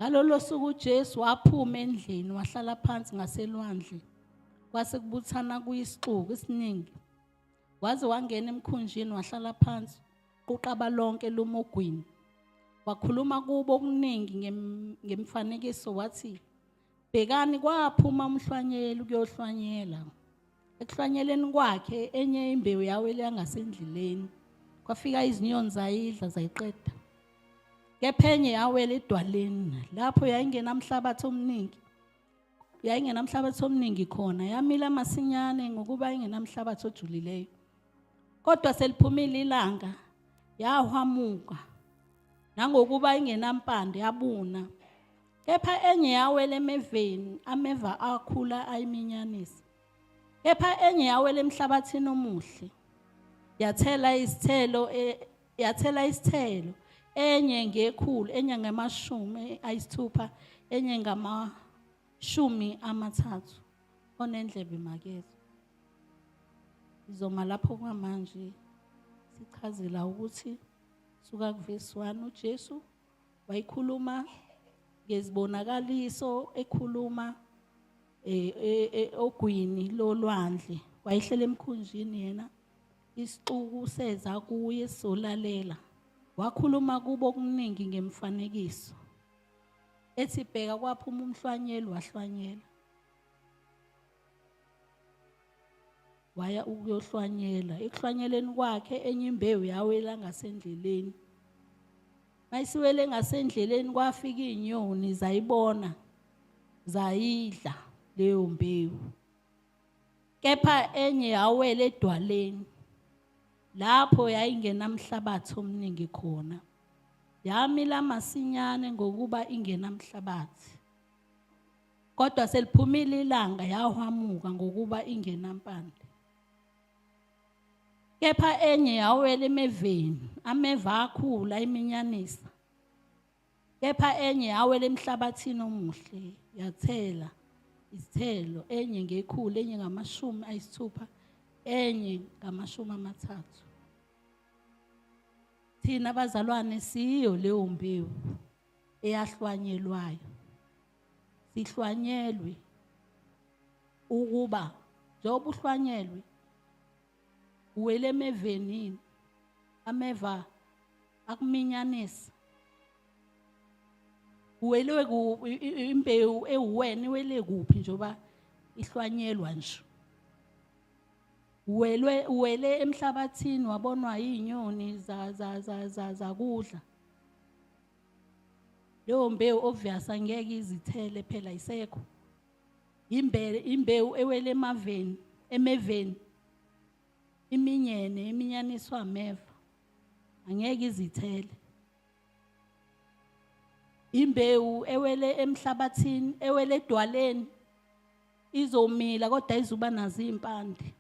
ngalolo suku ujesu waphuma endlini wahlala phansi ngaselwandle kwase kubuthana kuyisixuku esiningi waze wangena emkhunjini wahlala phansi quqaba lonke lumogwini wakhuluma kubo okuningi ngemifanekiso wathi bhekani kwaphuma umhlwanyeli ukuyohlwanyela ekuhlwanyeleni kwakhe enye imbewu yawele yangasendleleni kwafika izinyoni zayidla zayiqeda kepha enye yawela edwaleni lapho yayingenamhlabathi omningi yayingenamhlabathi omningi khona yamila masinyane ngokuba ingenamhlabathi ojulileyo kodwa seliphumile ilanga yahwamuka nangokuba ingenampande yabuna kepha enye yawela emeveni ameva akhula ayiminyanisa kepha enye yawela emhlabathini omuhle yathela isithelo e, yathela isithelo enye ngekhulu enye ngamashumi ayisithupha enye ngamashumi amathathu onendlebe makezo izoma lapho kwamanje sichazela ukuthi suka kuvesi 1 uJesu wayikhuluma ngezibonakaliso ekhuluma eh, eh, eh, ogwini lolwandle wayehlela emkhunjini yena isixuku seza kuye solalela wakhuluma kubo okuningi ngemfanekiso ethi bheka kwaphuma umhlwanyeli wahlwanyela waya ukuyohlwanyela ekuhlwanyeleni kwakhe enye imbewu yawela ngasendleleni mayisiwele ngasendleleni kwafika izinyoni zayibona zayidla leyo mbewu kepha enye yawela edwaleni lapho yayingenamhlabathi omningi khona yamila masinyane ngokuba ingenamhlabathi kodwa seliphumile ilanga yahwamuka ngokuba ingenampande kepha enye yawela emeveni ameva akhula iminyanisa kepha enye yawela emhlabathini omuhle yathela izithelo enye ngekhulu enye ngamashumi ayisithupha enye ngamashumi amathathu thina bazalwane siyo leyo mbewu eyahlwanyelwayo sihlwanyelwe ukuba njengoba uhlwanyelwe uwele emevenini ameva akuminyanisa uwelwe imbewu ewuwena iwele kuphi njengoba ihlwanyelwa nje uwelwe uwele emhlabathini wabonwa yinyoni zakudla za, za, za leyo mbewu obvious angeke izithele phela isekho imbele imbewu ewele emaveni emeveni iminyene iminyaniswa ameva angeke izithele imbewu ewele emhlabathini ewele edwaleni izomila kodwa izuba nazo impande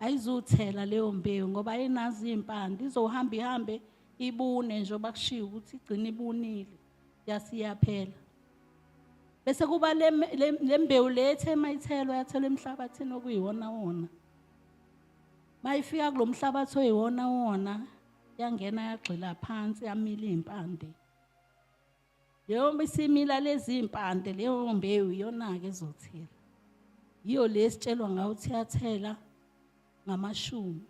ayizuthela leyo mbewu ngoba ayinazi impande izohamba ihambe ibune njengoba kushiwo ukuthi igcina ibunile yasiyaphela bese kuba le mbewu le ethe mayithelo yathelwa emhlabathini okuyiwona wona mayifika kulo mhlabathi oyiwona wona yangena yagxila phansi yamila iy'mpande Leyo isimila lezimpande leyo mbewu iyona-ke ezothela. Yiyo le esitshelwa ngayo ukuthi yathela ngamashumi.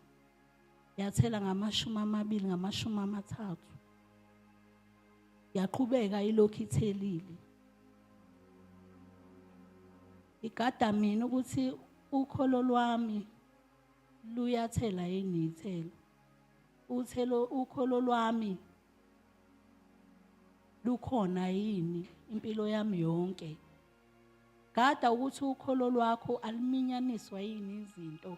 Yathela ngamashumi amabili ngamashumi amathathu. Yaqhubeka ilokhu ithelile. Igada mina ukuthi ukholo lwami luyathela yini ithelo. Uthelo ukholo lwami lukhona yini impilo yami yonke gada ukuthi ukholo lwakho aluminyaniswa yini izinto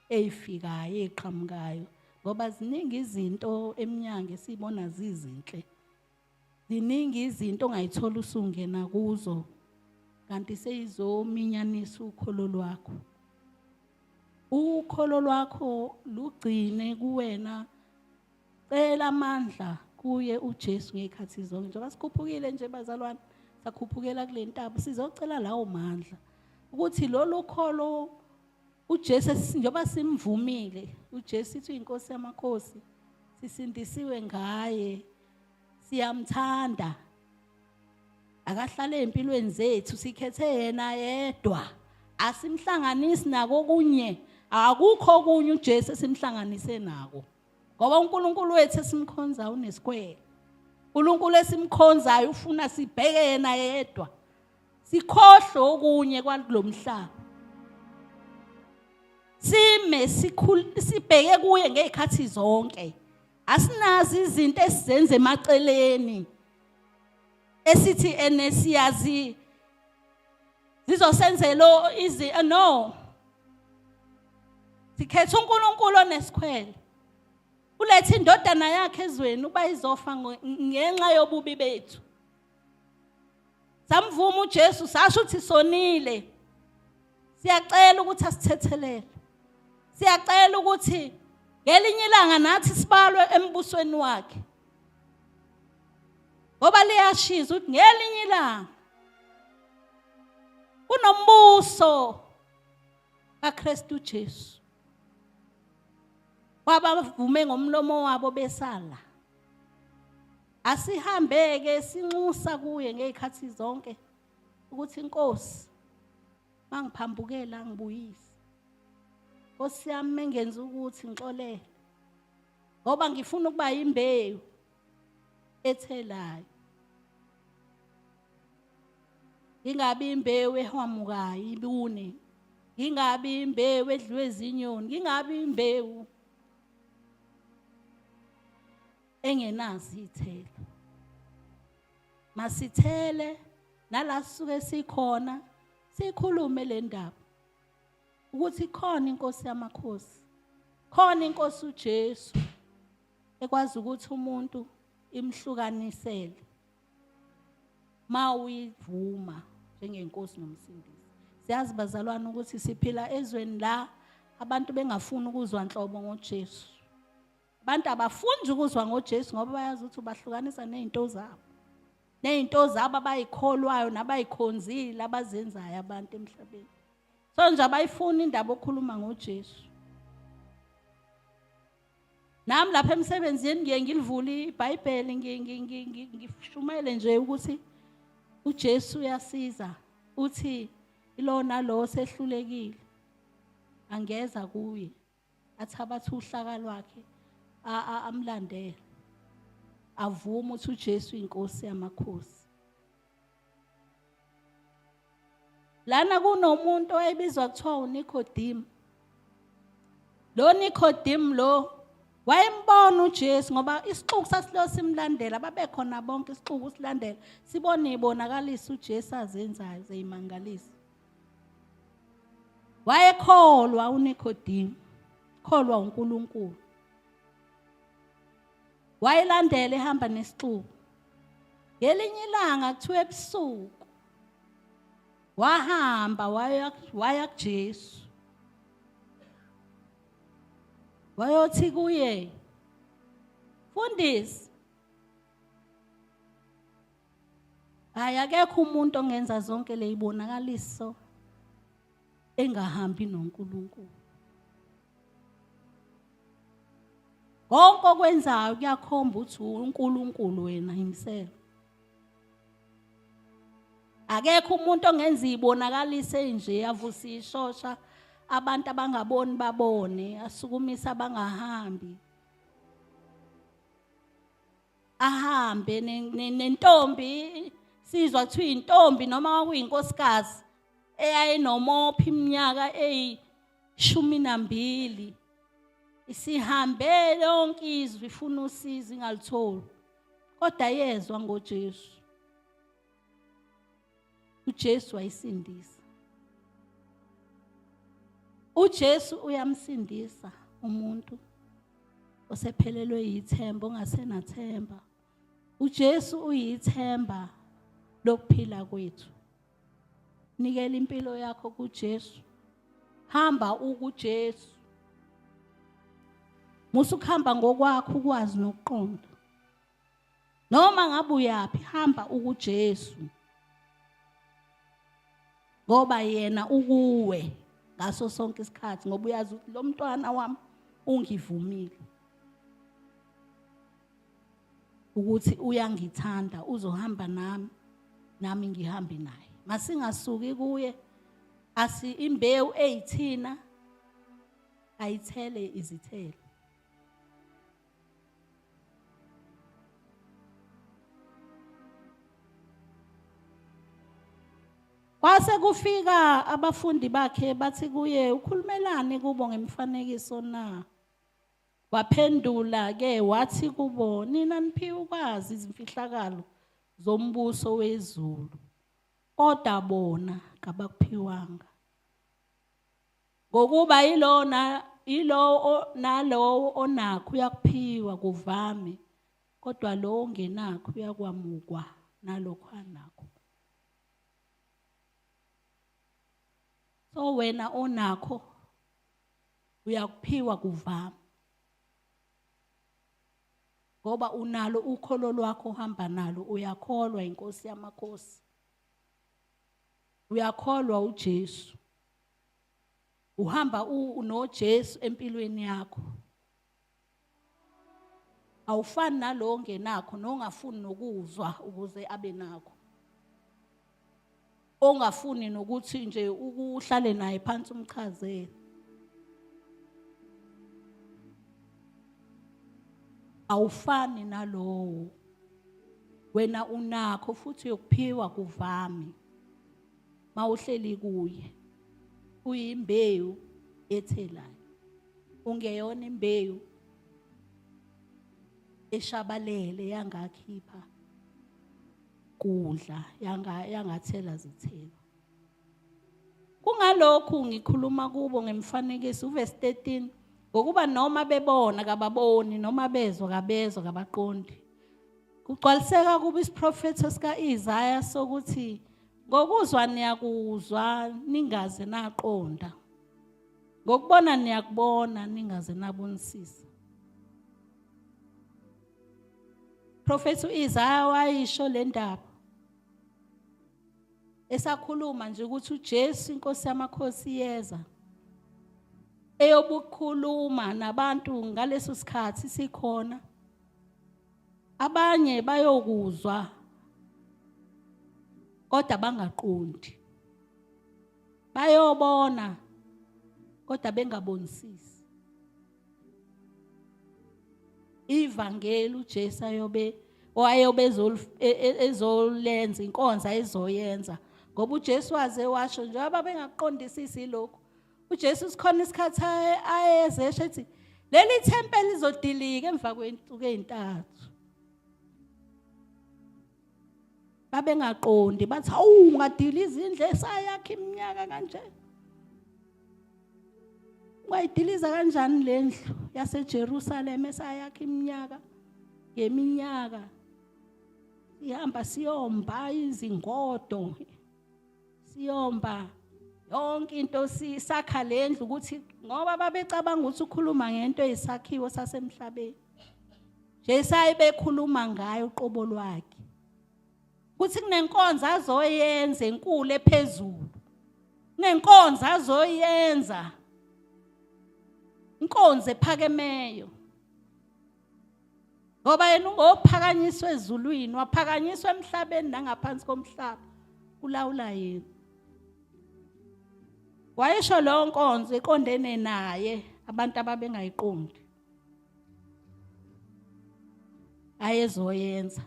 eyifikayo eqhamukayo ngoba ziningi izinto eminyango esibona zizinhle ziningi izinto ongayithola usungena kuzo kanti seyizominyanisa ukholo lwakho ukholo lwakho lugcine kuwena Cela amandla kuye uJesu ngezikhathi zonke. Njengoba sikhuphukile nje bazalwane, sakhuphukela kule ntaba, sizocela lawo mandla ukuthi lolu kholo uJesu njengoba simvumile, uJesu ithi inkosi yamakhosi, sisindisiwe ngaye, siyamthanda. Akahlale empilweni zethu, sikhethe yena yedwa. Asimhlanganisi nako kunye. Akukho kunye uJesu simhlanganise nako. ngoba uNkulunkulu wethu esimkhonza unesikwele uNkulunkulu esimkhonzayo ufuna sibheke yena yedwa sikhohle okunye kwalomhlaba sime sibheke kuye ngezikhathi zonke asinazi izinto esizenze emaceleni esithi enesiyazi zizosenzela izi eh, no sikhetha uNkulunkulu onesikhwele ulethe indodana yakhe ezweni uba izofa ngenxa yobubi bethu samvuma uJesu sasho ukuthi sonile siyacela ukuthi asithethelele siyacela ukuthi ngelinye ilanga nathi sibalwe embusweni wakhe ngoba liyashisa ukuthi ngelinye ilanga kunombuso kaKristu Jesu wabavume ngomlomo wabo besala asihambeke sinxusa kuye ngezikhathi zonke ukuthi inkosi mangiphambukela ngibuyise Nkosi yami mengenza ukuthi ngixolele ngoba ngifuna ukuba yimbewu ethelayo ngingabi imbewu ehwamukayo ibune ngingabi imbewu edliwe izinyoni ngingabi imbewu engenazi ithelo masithele nala suke sikhona sikhulume le ndaba ukuthi khona inkosi yamakhosi khona inkosi uJesu ekwazi ukuthi umuntu imhlukanisele ma uyivuma njengenkosi nomsindisi siyazi bazalwane ukuthi siphila ezweni la abantu bengafuni ukuzwa nhlobo ngoJesu abantu abafundi ukuzwa ngoJesu ngoba bayazi ukuthi ubahlukanisa nezinto zabo nezinto zabo abayikholwayo nabayikhonzile abazenzayo abantu emhlabeni so nje abayifuni indaba okhuluma ngoJesu nami lapha emsebenzini ngiye ngilivule ibhayibheli ngishumayele nje ukuthi ujesu uyasiza uthi ilona lo osehlulekile angeza kuye athi abathi uhlaka lwakhe amlandele avume ukuthi ujesu inkosi yamakhosi lana kunomuntu owayebizwa kuthiwa uNicodemus lo Nicodemus lo wayembona uJesu ngoba isixuku sasilo simlandela babekhona bonke isixuku silandela sibone ibonakalisa uJesu azenzayo zeyimangalisa wayekholwa uNicodemus kholwa uNkulunkulu wayelandela ehamba nesixuku ngelinye ilanga kuthiwa ebusuku wahamba waya waya kuJesu wayothi kuye fundisi hayi akekho umuntu ongenza zonke leyibonakaliso engahambi noNkulunkulu konke okwenzayo kuyakhomba ukuthi uNkulunkulu wena himself akekho umuntu ongenza ibonakalise nje avusa ishosha abantu abangaboni babone asukumisa abangahambi ahambe nentombi sizwa kuthiwa intombi noma kwakuyinkosikazi eyayinomophi iminyaka eyi shumi nambili isihambe lonke izwi ifuna usizo ingalitholi kodwa yezwa ngoJesu uJesu wayisindisa uJesu uyamsindisa umuntu osephelelwe yithemba ongasenathemba uJesu uyithemba lokuphila kwethu nikela impilo yakho kuJesu hamba ukuJesu musa ukuhamba ngokwakho ukwazi nokuqonda noma ngabe uyaphi hamba ukuJesu ngoba yena ukuwe ngaso sonke isikhathi ngoba uyazi ukuthi lo mntwana wami ungivumile ukuthi uyangithanda uzohamba nami nami ngihambe naye masingasuki kuye asi imbewu eyithina ayithele izithelo Kwase kufika abafundi bakhe bathi kuye ukhulumelani kubo ngemifanekiso na? Waphendula ke wathi kubo nina niphiwe ukwazi izimfihlakalo zombuso wezulu kodwa bona kabakuphiwanga ngokuba yilowo na yilowo nalowo onakho uyakuphiwa kuvame kodwa lowo ongenakho uyakwamukwa nalokho anakho so wena onakho uyakuphiwa kuvama ngoba unalo ukholo lwakho uhamba nalo uyakholwa inkosi yamakhosi uyakholwa uJesu uhamba unoJesu empilweni yakho awufani nalowo ongenakho nongafuni nokuzwa ukuze abe nakho ongafuni nokuthi nje ukuhlale naye phansi umchazele awufani nalowo wena unakho futhi uyokuphiwa kuvami mawuhleli kuye uyimbewu ethelayo ungeyona imbewu eshabalele yangakhipha kudla yanga yangathela zithelo kungalokhu ngikhuluma kubo ngemfanekiso uverse 13 ngokuba noma bebona kababoni noma bezwa kabezwa kabaqondi kugcwaliseka kuba isiprofetho sika-Isaya sokuthi Ngokuzwa niyakuzwa ningaze naqonda. Ngokubona niyakubona ningaze nabonisisa. Prophet uIsaya wayisho le ndaba. Esakhuluma nje ukuthi uJesu inkosi yamakhosi yeza. Eyobukhuluma nabantu ngaleso sikhathi sikhona. abanye bayokuzwa kodwa bangaqondi bayobona kodwa bengabonisisi ivangeli uJesu ayobe owayobe e, e, ezolenza inkonza ezoyenza ngoba uJesu waze washo njengoba bengaqondisisi lokho uJesu sikhona isikhathi ayeze esho ethi leli thempeli lizodilika emva kwensuku ezintathu babengaqondi bathi hawu ungadila izindle esayakhe iminyaka kanje wayidiliza kanjani le ndlu yaseJerusalem esayakhe iminyaka ngeminyaka ihamba siyomba izingodo siyomba yonke into sisakha lendlu ukuthi ngoba babecabanga ukuthi ukhuluma ngento eyisakhiwo sasemhlabeni nje sayibekhuluma ngayo uqobo lwakhe ukuthi kunenkonzo azoyenza enkulu ephezulu kunenkonzo azoyenza inkonzo ephakemeyo ngoba yena ungophakanyiswa ezulwini waphakanyiswa emhlabeni nangaphansi komhlaba kulawula yena wayesho leyo nkonzo eqondene naye abantu ababengayiqondi ayezoyenza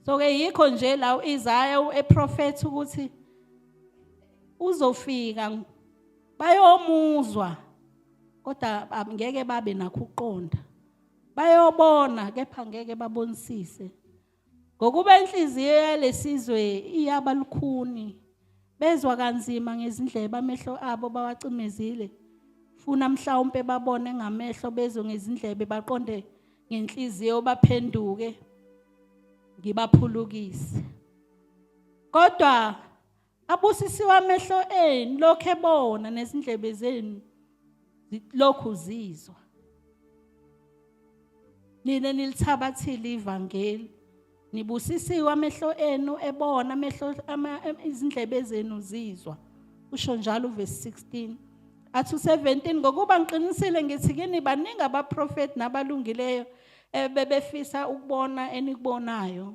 so ke yikho nje la uIsaya ueprofethi ukuthi uzofika bayomuzwa kodwa ngeke babe nakho ukuqonda bayobona kepha ngeke babonisise ngokuba inhliziyo yalesizwe iyaba lukhuni bezwa kanzima ngezindlebe amehlo abo bawacimezile funa mhlawumpe babone ngamehlo bezwe ngezindlebe baqonde ngenhliziyo baphenduke ngibaphulukise kodwa Abusisiwe amehlo enu lokho ebona nezindlebe zenu lokhu zizwa. Nina nilithabathile ivangeli. Nibusisiwe amehlo enu ebona amehlo izindlebe zenu zizwa. Usho njalo verse 16. Athu 17 ngokuba ngiqinisile ngithi kini baningi abaprofeti nabalungileyo ebebefisa ukubona enikubonayo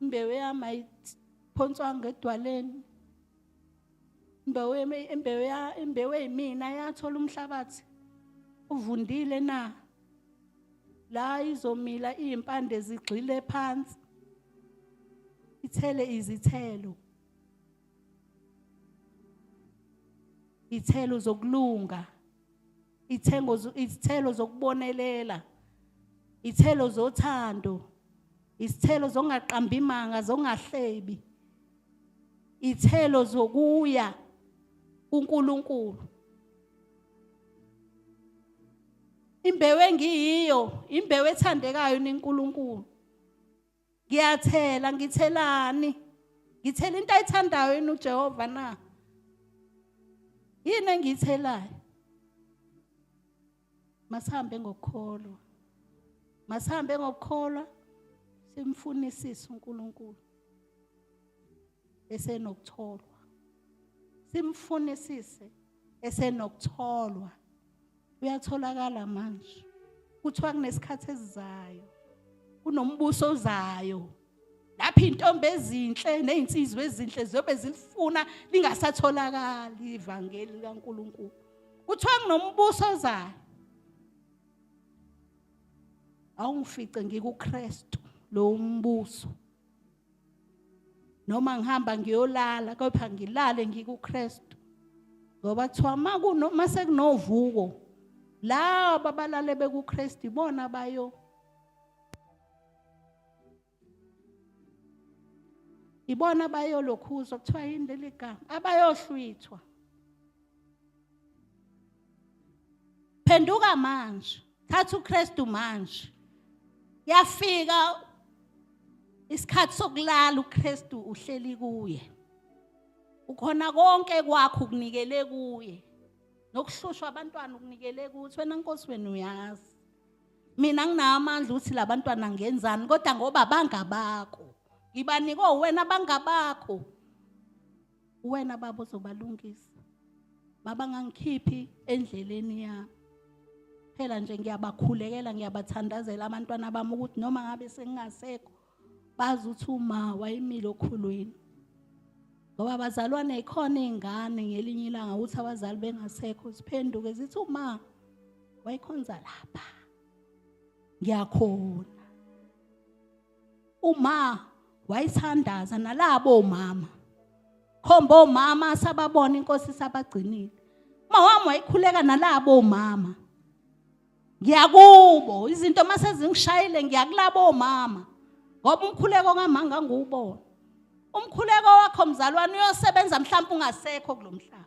imbewu yami ayiphonswanga edwaleni imbewu yami imbewu ya imbewu yimina yathola umhlabathi uvundile na la izomila izimpande zigxile phansi ithele izithelo ithelo zokulunga ithengo izithelo zokubonelela ithelo zothando isithelo zongaqambi imanga zongahlebi ithelo zokuya kuNkulunkulu imbewu engiyiyo imbewu ethandekayo niNkulunkulu ngiyathela ngithelani ngithela into ayithandayo yini uJehova na yini engiyithelayo masihambe ngokukholwa masihambe ngokukholwa simfunisise uNkulunkulu esenokutholwa simfunisise esenokutholwa uyatholakala manje kuthiwa kunesikhathi esizayo kunombuso ozayo lapho intombi ezinhle nezinsizwa ezinhle ziyobe zilifuna lingasatholakali ivangeli likaNkuluNkulu kuthiwa kunombuso ozayo awungifice ngikuKristu lo mbuso noma ngihamba ngiyolala kepha ngilale ngikuKristu ngoba kuthiwa uma kunoma sekunovuko laba abalale bekuKristu ibona bayo ibona bayolokhuzwa kuthiwa yini leli gama abayohlwithwa phenduka manje thatha uKristu manje yafika isikhathi sokulala uKristu uhleli kuye ukhona konke kwakho ukunikele kuye nokuhlushwa abantwana ukunikele kuthi wena nkosi wena uyazi mina nginawo amandla ukuthi labantwana ngenzani kodwa ngoba bangabakho ngibanikwe wena bangabakho uwena baba ozobalungisa baba ngangikhiphi endleleni yami phela nje ngiyabakhulekela ngiyabathandazela abantwana bami ukuthi noma ngabe sengingasekho bazi ukuthi uma wayimile okhulwini ngoba abazalwane ikhona iy'ngane ngelinye ilanga ukuthi abazali bengasekho ziphenduke zithi uma wayikhonza lapha ngiyakhona uma wayithandaza nalabo mama khomba omama sababona inkosi sabagcinile uma wami wayikhuleka nalabo mama ngiyakubo izinto mase zingishayile ngiyakulabo mama ngoba umkhuleko ngamanga ngiwubona umkhuleko wakho mzalwane uyosebenza mhlawumbe ungasekho kulomhlaba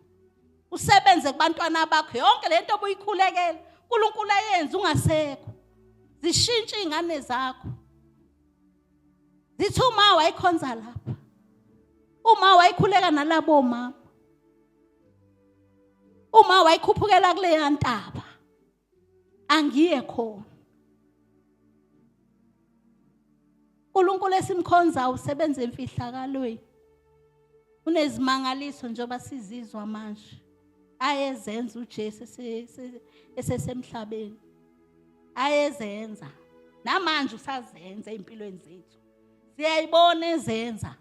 usebenze kubantwana bakho yonke le nto obuyikhulekela unkulunkulu ayenze ungasekho zishintshe iy'ngane zakho zithi uma wayikhonza lapha uma wayikhuleka nalabo mama uma wayikhuphukela kuleya ntaba angiye khona uNkulunkulu esimkhonza usebenza emfihlakalweni unezimangaliso njengoba sizizwa manje ayezenza uJesu esesemhlabeni ayezenza namanje usazenza empilweni zethu siyayibona ezenza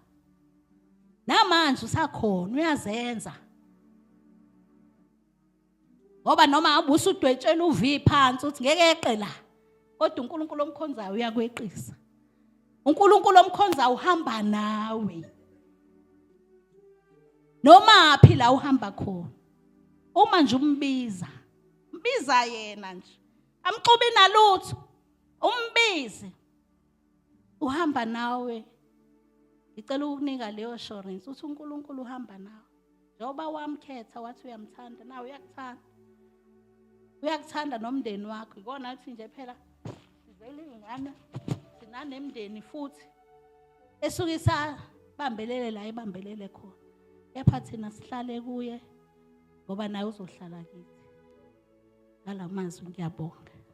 namanje usakhona uyazenza ngoba noma hamba usudwetshela uv phansi uthi ngeke yeqe la kodwa unkulunkulu omkhonzayo uyakweqisa unkulunkulu omkhonzayo uhamba nawe noma phi la uhamba khona uma nje umbiza mbiza yena nje amxubi nalutho umbize uhamba nawe ngicela ukukunika leyo assurance uthi uNkulunkulu uhamba nawe njengoba wamkhetha wathi uyamthanda nawe uyakuthanda uyakuthanda nomndeni wakho ikona athi nje phela sizele ingane sinanemndeni futhi esuke isabambelele la ibambelele khona kepha thina sihlale kuye ngoba naye uzohlala kithi ngalamazwi ngiyabonga